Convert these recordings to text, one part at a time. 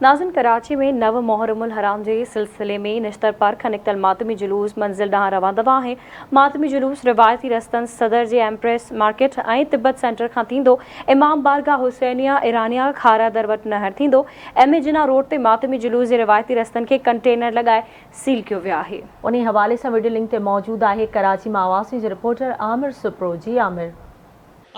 ناظرين ڪراچي ۾ نو محرم الحرام جي سلسلي ۾ نشتر پار کان نڪتل ماتمي جلوس منزل ڏانهن روان دوان آهي. ماتمي جلوس روايتي رستن صدر جي ايمپريس مارڪيٽ ۽ تبت سينٽر کان ٿيندو امام بارگاهه حسينيه ايرانيه کارا در وٽ نهر ٿيندو ايم اي جناح روڊ تي ماتمي جلوس جي روايتي رستن کي ڪنٽينر لڳائي سيل ڪيو ويو آهي. انهي حوالي سان وڊيو لنڪ تي موجود آهي. ڪراچي مان آواز نيوز جي رپورٽر عامر سپرو جي عامر.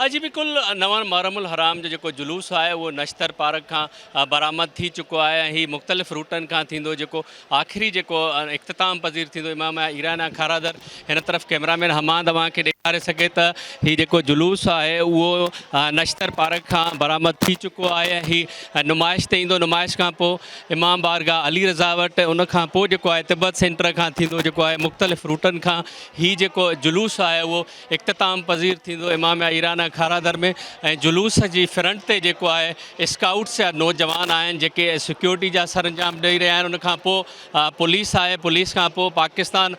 اڄ به ڪل نوان محرم الحرام جو جيڪو جلوس آهي اهو نشتر پارڪ کان برآمد ٿي چڪو آهي ۽ هي مختلف روٽن کان ٿيندو جيڪو آخري جيڪو اختتام پذير ٿيندو امام ايران ۽ کارادر هن طرف ڪيمرا مين حماد اوهان کي ڏيکاري سگهي ته هي جيڪو جلوس آهي اهو نشتر پارڪ کان برآمد ٿي چڪو آهي ۽ هي نمائش تي ايندو نمائش کان پوء امام بارگاهه علي رضا وٽ ان کان پوء جيڪو آهي تبت سينٽر کان ٿيندو جيڪو آهي مختلف روٽن کان هي جيڪو جلوس آهي اهو اختتام پذير ٿيندو امام ايرانه کارادر ۾ ۽ جلوس جي فرنٽ تي جيڪو آهي اسڪائوٽس جا نوجوان آهن جيڪي سيڪيورٽي جا سرانجام ڏئي رهيا آهن ان کان پوء پوليس آهي پوليس کان پوء پاڪستان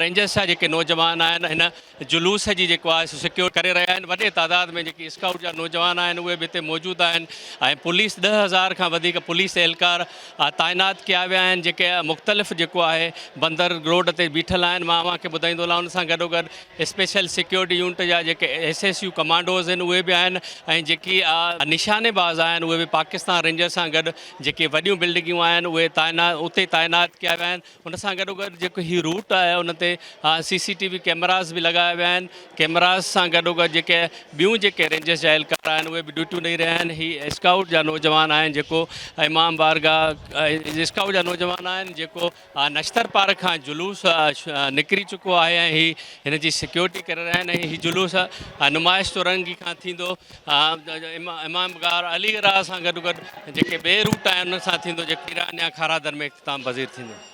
رينجرس جا جيڪي نوجوان آهن هن جلوس جي جيڪو آهي سو سيڪيور ڪري رهيا آهن وڏي تعداد ۾ جيڪي اسڪائوٽ جا نوجوان آهن اهي به هتي موجود آهن ۽ پوليس ڏهه هزار کان وڌيڪ پوليس اهلڪار تعينات ڪيا ويا آهن جيڪي مختلف جيڪو آهي بندر روڊ تي بيٺل آهن مان اوهان کي ٻڌائيندو هلان ان سان گڏوگڏ اسپيشل سيڪيورٽي يونٽ جا جيڪي ايس ايس يو ڪمانڊوز آهن اهي به آهن ۽ جيڪي نشاني باز آهن اهي به پاڪستان رينجرز سان گڏ جيڪي وڏيون بلڊنگيون آهن اهي تعينات اتي تعينات ڪيا ويا آهن ان سان گڏو گڏ جيڪو هي روٽ آهي ان تي سي سي ٽي وي ڪيمراز به لڳايا ويا آهن ڪيمراز سان گڏو گڏ جيڪي ٻيون جيڪي رينجرز جا اهلڪار آهن اهي به ڊيوٽيون ڏئي رهيا آهن هي اسڪائوٽ جا نوجوان آهن جيڪو امام بارگاهه اسڪائوٽ جا نوجوان آهن جيڪو نشتر پارڪ کان جلوس نڪري چڪو آهي ۽ هي هن جي سيڪيورٽي ڪري رهيا آهن ۽ هي جلوس نمائش چورنگي کان ٿيندو امام غار علي راء سان گڏ گڏ جيڪي ٻئي روٽ آهن انهن سان ٿيندو جيڪو ايران يا کارا در ۾ اختتام پذير ٿيندو